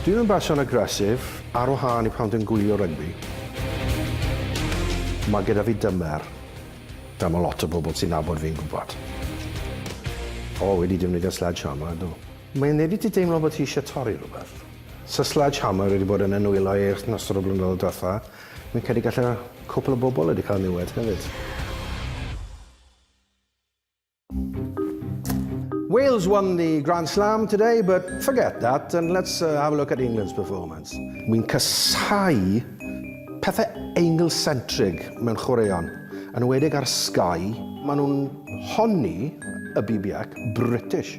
Dwi yn berson aggressive, ar wahân i pan dwi'n gwylio rygbi. Mae gyda fi dymer, fel mae lot o bobl sy'n nabod fi'n gwybod. O, wedi defnyddio sledgehammer, do. Mae yn neud i ti deimlo bod ti eisiau torri rhywbeth. Sa sledgehammer wedi bod yn y nwylo ei yrth yn ystod y blynyddoedd diwetha, fi'n credu gallai cwpl o bobl wedi cael niwed hefyd. Wales won the Grand Slam today but forget that and let's have a look at England's performance. Wi'n casáu pethe Angle-centric mewn chwaraeon, yn enwedig ar Sky, ma' nhw'n honni y BBac British.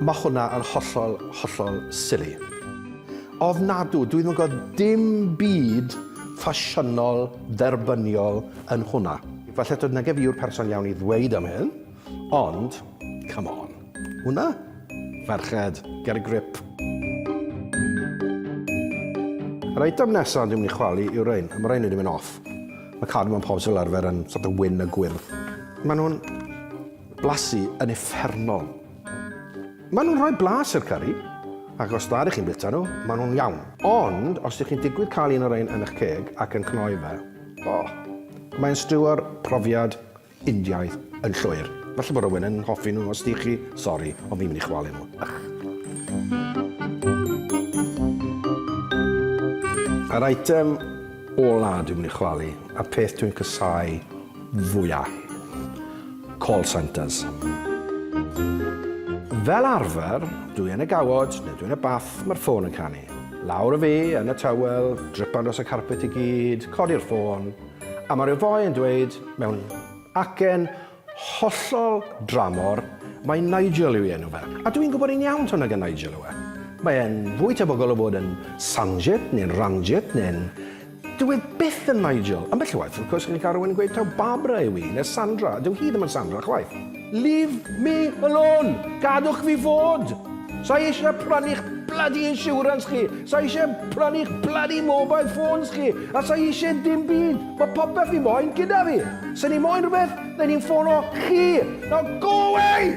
Mae hwnna yn hollol, hollol silly. Ofnadw, dwi ddim yn gweld dim byd ffasiynol dderbyniol yn hwnna. Falle to nage fi yw'r person iawn i ddweud am hyn, ond, come on, hwnna? Ferched, get a grip. Yr eitem nesa dwi'n mynd i chwalu yw'r ein, a mae'r ein wedi mynd off. Mae cadw mewn pobs fel arfer yn sort of wyn a gwyrdd. Mae nhw'n Blasu yn uffernol. Maen nhw'n rhoi blas i'r curry, ac os da dych chi'n bwyta nhw, maen nhw'n iawn. Ond os dych chi'n digwydd cael un o rein yn eich ceg ac yn cnoi fe, oh, mae'n stiwio'r profiad Indiaidd yn llwyr. Falle bod rhywun yn hoffi nhw, os dych chi, sori, ond fi'n mynd i chwalu nhw. Ych. Yr eitem ola dwi'n mynd i chwalu, a peth dwi'n casau fwya. Call centres. Fel arfer, dwi yn y gawod neu dwi yn y bath, mae'r ffôn yn canu. Lawr â fi yn y towel, dripan dros y carpet i gyd, codi'r ffôn, a mae'r efo'i yn dweud, mewn acen hollol dramor, Mae Nigel yw ei enw fe. A dwi'n gwybod yn iawn taw nag yn Nigel yw e. Mae e'n fwy tebygol o fod yn Sanjit neu'n Ranjit neu'n Dyw e byth yn Nigel. Ambell waith, wrth gwrs, chi'n cael rhywun yn gweud taw Barbara yw hi, neu Sandra, a dyw hi ddim yn Sandra chwaith. Leave me alone! Gadwch fi fod! Sa i eisiau prynu'ch bloody insurance chi, sa i eisiau prynu'ch bloody mobile phones chi, a sa i eisiau dim byd. Mae popeth fi moyn gyda fi. Sa'n ni'n moyn rhywbeth, neu ni'n ffono chi. Now go away!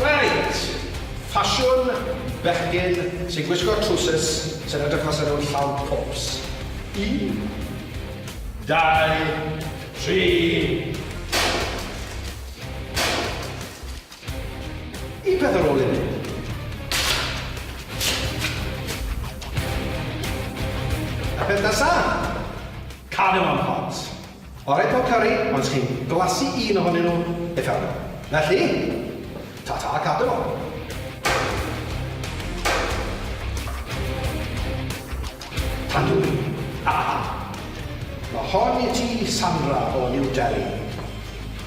Reit! Ffasiwn bechgyn sy'n gwisgo trowsus sy'n edrych fel 'sa nhw'n llawn pops. Un, dau, tri. Un peth ar ôl un. A peth nesa? Cardamom pops. Orau pob cyrri, ond chi'n glasu un ohonyn nhw i fewn. Felly, ta-ta Cadw! Tandwy! Haha! Mae hon i ti, Sandra o New Delhi.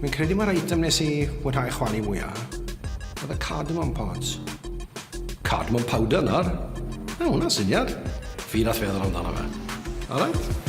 Fi'n credu mae'r item nes i fwynhau chwali mwya oedd y cardamom pods. Cardamom powder nawr? Mae hwnna'n syniad. Fi nath feddwl amdano fe. Alright.